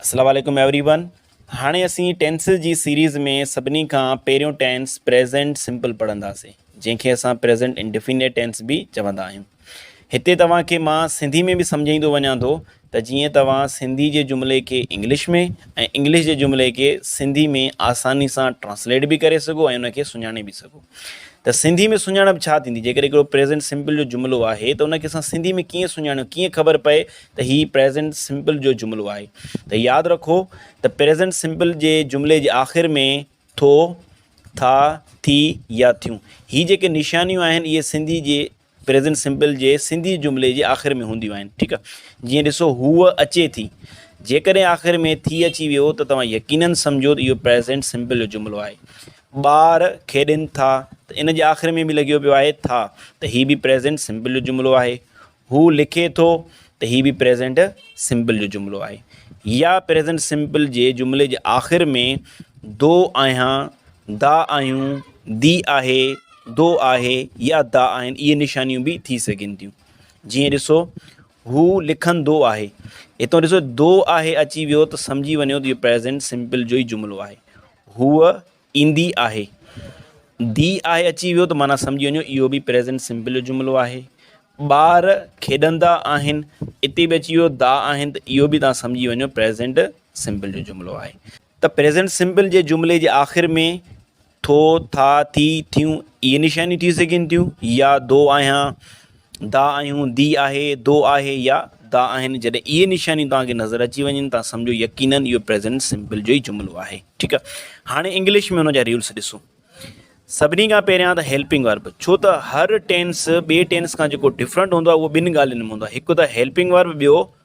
اسلام عليڪم everyone هاڻي اسين ٽينسز جي سيريز ۾ سڀني کان پهريون ٽينس پريزنٽ سمپل پڙهنداسين جنهن کي اسان پريزنٽ انڊيفينيٽ ٽينس به چوندا آهيون هتي توهان کي مان سنڌي ۾ به سمجهائيندو وڃان ٿو ته جيئن توهان سنڌي جي جملي کي انگلش ۾ ۽ انگلش جي جملي کي سنڌي ۾ آساني سان ٽرانسليٽ به ڪري سگهو ۽ ان کي سڃاڻي به سگهو ته سنڌي ۾ سڃاڻپ ڇا ٿيندي جيڪڏهن هڪڙو پريزنٽ سمپل جو جملو آهي ته ان کي اسان سنڌي ۾ ڪيئن سڃاڻيون ڪيئن خبر پئي ته هي پريزنٽ سمپل جو جملو آهي ته ياد رکو ته پريزنٽ سمپل جي جملي جي آخر ۾ ٿو، ٿا، ٿي يا ٿيون هي جيڪي نشانيون آهن اهي سنڌي جي پريزنٽ سمپل جي سنڌي جملي جي آخر ۾ هونديون آهن ٺيڪ آهي جيئن ڏسو هوء اچي ٿي جيڪڏهن آخر ۾ ٿي اچي ويو ته توهان يقينن سمجهو ته اهو پريزنٽ سمپل جو جملو آهي ٻار کيڏين ٿا ته ان جي آخر ۾ به لڳيو پيو آهي ٿا ته هي به پريزنٽ سمپل جو جملو آهي هو لکي ٿو ته هي به پريزنٽ سمپل جو جملو آهي يا پريزنٽ سمپل جي جملي جي آخر ۾ دو آهيان دا آهيون دي آهي دو آهي يا دا آهن اهي نشانيون به ٿي سگهن ٿيون جيئن ڏسو هو لکندو آهي هتو ڏسو دو آهي اچي ويو ته سمجهي وڃو ته اهو پريزنٽ سمپل جو ئي جملو آهي هو ايندي آهي. دي آهي اچي ويو ته معنيٰ سمجهي وڃو اهو به پريزنٽ سمپل جو جملو آهي. ٻار کيڏندا آهن اتي به اچي ويو دا آهن ته اهو به توهان سمجهي وڃو پريزنٽ سمپل جو جملو آهي. ته پريزنٽ سمپل جي جملي جي آخر ۾ ٿو، ٿا، ٿي، ٿيون اهي نشانيون ٿي سگهن ٿيون يا دو آهيان، دا آهيون، دي آهي، دو آهي يا دا آهن جڏهن اهي نشانيون توهان کي نظر اچي وڃن ته سمجهو يقينن اهو پريزنٽ سمپل جو ئي جملو آهي ٺيڪ آهي هاڻي انگلش ۾ ان جا ريولس ڏسو سڀني کان پهريان ته هيلپنگ ورب ڇو ته هر ٽينس ٻي ٽينس کان جيڪو ڊفرنٽ هوندو آهي اهو ٻن ڳالهين ۾ هوندو آهي هڪ ته هيلپنگ ورب ٻيو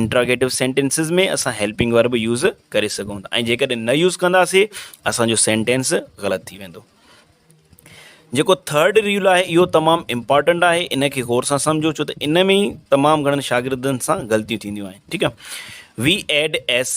انٽراگيٽو سينٽينسز ۾ اسان هيلپنگ ورب يوز ڪري سگهون ٿا ۽ جيڪڏهن نه يوز ڪنداسي اسانجو سينٽينس غلط ٿي ويندو جيڪو ٿرڊ رول آهي اهو تمام امپارٽنٽ آهي ان کي غور سان سمجھو ڇو ته ان ۾ تمام گھڻن شاگردن سان غلطيون ٿينديون آهن ٺيڪ آهي وي ايڊ ايس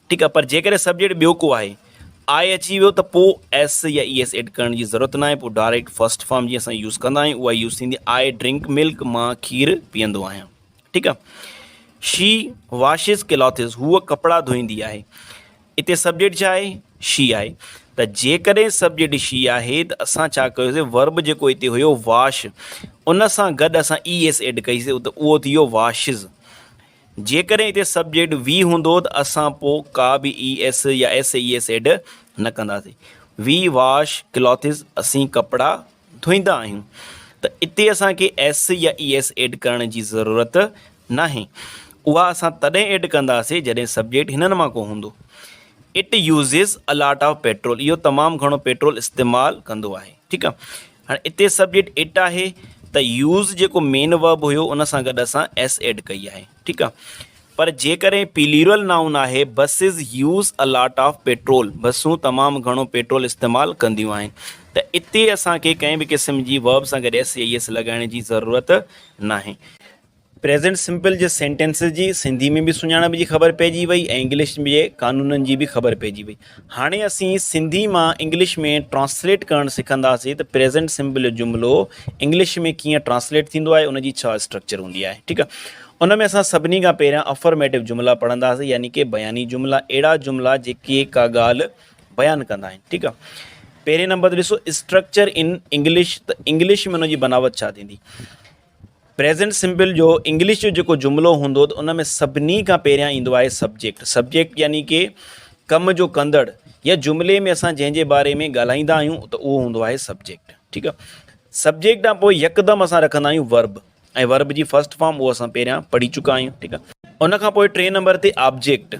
ٺيڪ آهي پر جيڪڏهن سبجيڪٽ ٻيو ڪو آهي آء اچي ويو ته پوء ايس يا اي ايس ايڊ ڪرڻ جي ضرورت ناهي پوء ڊائريڪٽ فرسٽ فارم جي اسان يوز ڪندا آهيون اها يوز ٿيندي آء ڊرنڪ ملڪ مان کير پيئندو آهيان ٺيڪ آهي شي واشز ڪلاٿز هوء ڪپڙا ڌوئيندي آهي اتي سبجيڪٽ ڇا آهي شي آهي ته جيڪڏهن سبجيڪٽ شي آهي ته اسان ڇا ڪيوسي ورب جيڪو اتي هيو واش ان سان گڏ اسان اي ايس ايڊ ڪئيسي ته اهو ٿي ويو واشز جيڪڏهن اتي سبجيڪٽ وي هوندو ته اسان پوء ڪا به اي ايس يا ايس اي ايس ايڊ نه ڪنداسين. وي واش ڪلاٿز اسين ڪپڙا ڌوئيندا آهيون ته اتي اسان کي ايس يا اي ايس ايڊ ڪرڻ جي ضرورت ناهي. اها اسان تڏهن ايڊ ڪنداسين جڏهن سبجيڪٽ هنن مان ڪو هوندو. It uses a lot of petrol اهو تمام گهڻو پيٽرول استعمال ڪندو آهي. ٺيڪ آ. هاڻي اتي سبجيڪٽ اٽ آهي ته يوز جيڪو مين ورب هيو ان سان گڏ اسان ايس ايڊ ڪئي آهي ٺيڪ آهي پر جيڪڏهن پيليورل نائون آهي buses use a lot of petrol بسون تمام گهڻو پيٽرول استعمال ڪنديون آهن ته اتي اسان کي ڪنهن به قسم جي ورب سان گڏ ايس اي ايس لڳائڻ جي ضرورت ناهي پريزنٽ سمپل جي سينٽينسز جي سنڌي ۾ به سڃاڻپ جي خبر پئجي وئي ۽ انگلش جي قانونن جي به خبر پئجي وئي هاڻي اسين سنڌي مان انگلش ۾ ٽرانسليٽ ڪرڻ سکنداسين ته پريزنٽ سمپل جو جملو انگلش ۾ ڪيئن ٽرانسليٽ ٿيندو آهي ان جي ڇا اسٽرڪچر هوندي آهي ٺيڪ آهي ان ۾ اسان سڀني کان پهريان افرميٽو جملا پڙهنداسين يعني ڪي بياني جملا اهڙا جملا جيڪي ڪا ڳالهه بيان ڪندا آهن ٺيڪ آهي پهرين نمبر ڏسو اسٽرڪچر ان انگلش ته انگلش ۾ ان جي بناوت ڇا ٿيندي پريزنٽ سمپل جو انگلش جو جيڪو جملو هوندو ته ان ۾ سڀني کان پهريان ايندو آهي سبجيڪٽ سبجيڪٽ يعني ڪي ڪم جو ڪندڙ يا جملي ۾ اسان جنهن جي باري ۾ ڳالهائيندا آهيون ته اهو هوندو آهي سبجيڪٽ ٺيڪ آ سبجيڪٽ کان پوء يڪدم اسان رکندا آهيون ورب ۽ ورب جي فرسٽ فارم اهو اسان پهريان پڙهي چڪا آهيون ٺيڪ آ ان کان پوء ٽي نمبر تي آبجيڪٽ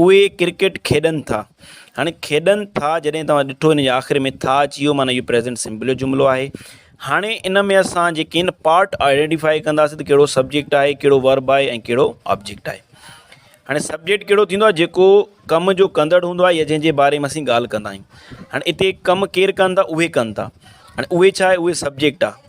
اهي ڪرڪيٽ کيڏن ٿا. هاڻي کيڏن ٿا جڏهن توهان ڏٺو ان جي آخر ۾ ٿا اچي ويو معنيٰ اهو پريزنٽ سمپل جو جملو آهي. هاڻي ان ۾ اسان جيڪي آهن پارٽ آئيڊينٽيفائي ڪنداسين ته ڪهڙو سبجيڪٽ آهي ڪهڙو ورب آهي ۽ ڪهڙو آبجيڪٽ آهي. هاڻي سبجيڪٽ ڪهڙو ٿيندو آهي جيڪو ڪم جو ڪندڙ هوندو آهي يا جنهن جي باري ۾ اسين ڳالهه ڪندا آهيون. هاڻي اتي ڪم ڪير ڪن ٿا اهي ڪن ٿا. هاڻي اهي ڇا آهي اهي سبجيڪٽ آهي.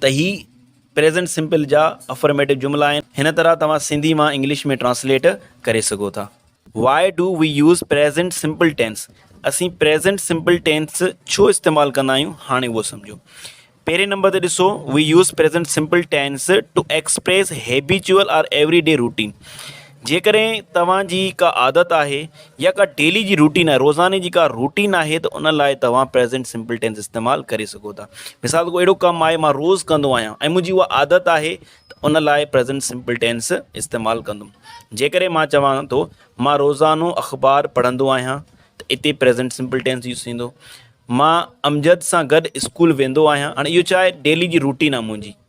ته هي پريزنٽ سمپل جا افرميٽو جملا آهن هن طرح توهان سنڌي مان انگلش ۾ ٽرانسليٽ ڪري سگهو ٿا why do we use present simple tense اسين پريزنٽ سمپل ٽينس ڇو استعمال ڪندا آهيون هاڻي اهو سمجهو پهرين نمبر تي ڏسو we use present simple tense to express habitual or everyday routine جيڪڏهن توهان جي ڪا عادت آهي يا ڪا ڊيلي جي روٽين آهي روزاني جي ڪا روٽين آهي ته ان لاء توهان پريزينٽ سمپل ٽينس استعمال ڪري سگهو ٿا مثال ڪو اهڙو ڪم آهي مان روز ڪندو آهيان ۽ منهنجي اها عادت آهي ته ان لاء پريزينٽ سمپل ٽينس استعمال ڪندم جيڪڏهن مان چوان ٿو مان روزانو اخبار پڙهندو آهيان ته اتي پريزينٽ سمپل ٽينس يوز ٿيندو مان امجد سان گڏ اسڪول ويندو آهيان هاڻي اهو ڇا آهي ڊيلي جي روٽين آهي منهنجي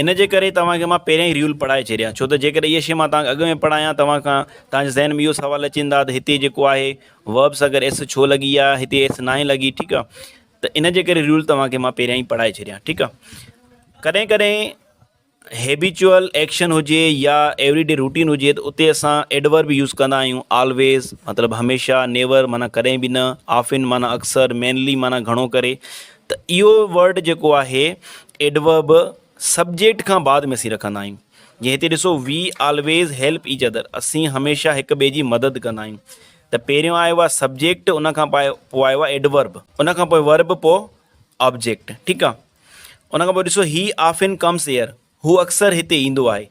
ان جي ڪري توهان کي مان پهريان ئي ريول پڙهائي ڇڏيا ڇو ته جيڪڏهن اها شيء مان توهان کي اڳ ۾ پڙهايان توهان کان توهان جي ذهن ۾ اهو سوال اچي ويندا ته هتي جيڪو آهي Verbs اگر ايس ڇو لڳي يا هتي ايس ناهي لڳي ٺيڪ آهي ته ان جي ڪري ريول توهان کي مان پهريان ئي پڙهائي ڇڏيا ٺيڪ آهي ڪڏهن ڪڏهن هيبيچوئل ايڪشن هجي يا ايوري ڊي روٽين هجي ته اتي اسان ايڊورب به يوز ڪندا آهيون آلويز مطلب هميشه نيور معنيٰ ڪڏهن به نه آفن معنيٰ اڪثر مينلي معنيٰ گهڻو ڪري ته اهو ورڊ جيڪو آهي ايڊورب سبجيڪٽ کان بعد ۾ اسين رکندا آهيون جيئن هتي ڏسو we always help each other اسين هميشه هڪ ٻئي جي مدد ڪندا آهيون ته پهريون آيو آهي سبجيڪٽ ان کان پاء پوء آيو آهي ايڊورب ان کان پوء ورب پوء آبجيڪٽ ٺيڪ آهي ان کان پوء ڏسو هي آفن ڪمس ايئر هو اڪثر هتي ايندو آهي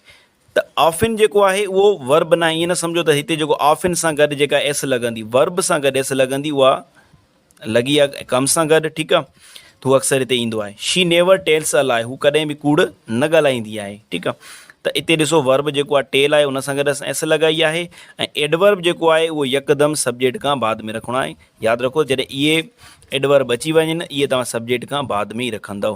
ته آفن جيڪو آهي اهو Verb ناهي ائين نه سمجهو ته هتي جيڪو آفن سان گڏ جيڪا ايس لڳندي Verb سان گڏ ايس لڳندي اها لڳي آهي ڪم سان گڏ ٺيڪ آهي ته هو اڪثر هتي ايندو آهي شي نيور ٽيلس ا لائي هو ڪڏهن به ڪوڙ نه ڳالهائيندي آهي ٺيڪ آهي ته اتي ڏسو Verb جيڪو آهي ٽيل آهي ان سان گڏ اسان ايس لڳائي آهي ۽ Adverb جيڪو آهي اهو يڪدم سبجيڪٽ کان بعد ۾ رکڻو آهي ياد رکو جڏهن اهي Adverb اچي وڃن اهي توهان سبجيڪٽ کان بعد ۾ ئي رکندؤ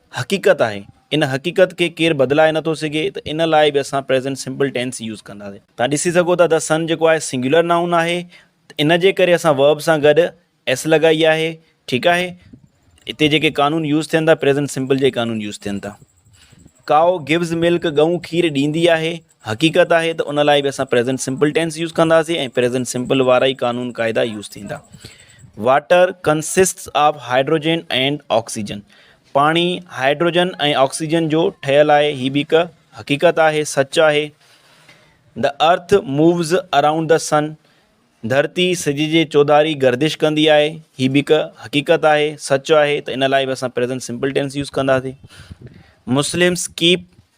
حقيقت آهي ان حقيقت کي ڪير بدلائي نٿو سگهي ته ان لاء به اسان پريزنٽ سمپل ٽينس يوز ڪنداسين توهان ڏسي سگهو ٿا The Sun جيڪو آهي سنگيولر نائون آهي ته ان جي ڪري اسان Verb سان گڏ S لڳائي آهي ٺيڪ آهي اتي جيڪي قانون يوز ٿين ٿا پريزنٽ سمپل جي قانون يوز ٿين ٿا ڪائو گيوز ملڪ ڳئون کير ڏيندي آهي حقيقت آهي ته ان لاء به اسان پريزنٽ سمپل ٽينس يوز ڪنداسين ۽ پريزنٽ سمپل وارا ئي قانون قاعدا يوز ٿيندا water consists of hydrogen and oxygen پاڻي هائڊروجن ۽ آڪسيجن جو ٺهيل آهي هي به هڪ حقيقت آهي سچ آهي د ارٿ مووز اراؤنڊ د سن ڌرتي سج جي چوڌاري گردش ڪندي آهي هي به هڪ حقيقت آهي سچ آهي ته ان لاء به اسان پريزنٽ سمپل ٽينس يوز ڪنداسين مسلمس ڪيپ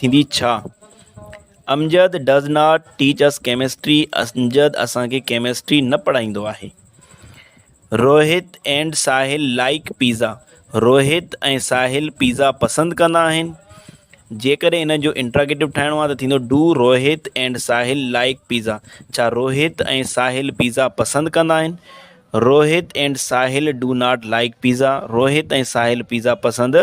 ٿيندي ڇا؟ Amjad does not teach us chemistry Amjad اسان کي ڪيمسٽري نه پڙهائيندو آهي Rohit and Sahil like pizza Rohit ۽ Sahil pizza پسند ڪندا آهن جيڪڏهن ان جو انٽراگيٽو ٺاهڻو آهي ته ٿيندو do Rohit and Sahil like pizza ڇا روهت ۽ ساحل پيزا پسند ڪندا آهن Rohit and Sahil do not like pizza Rohit ۽ Sahil pizza پسند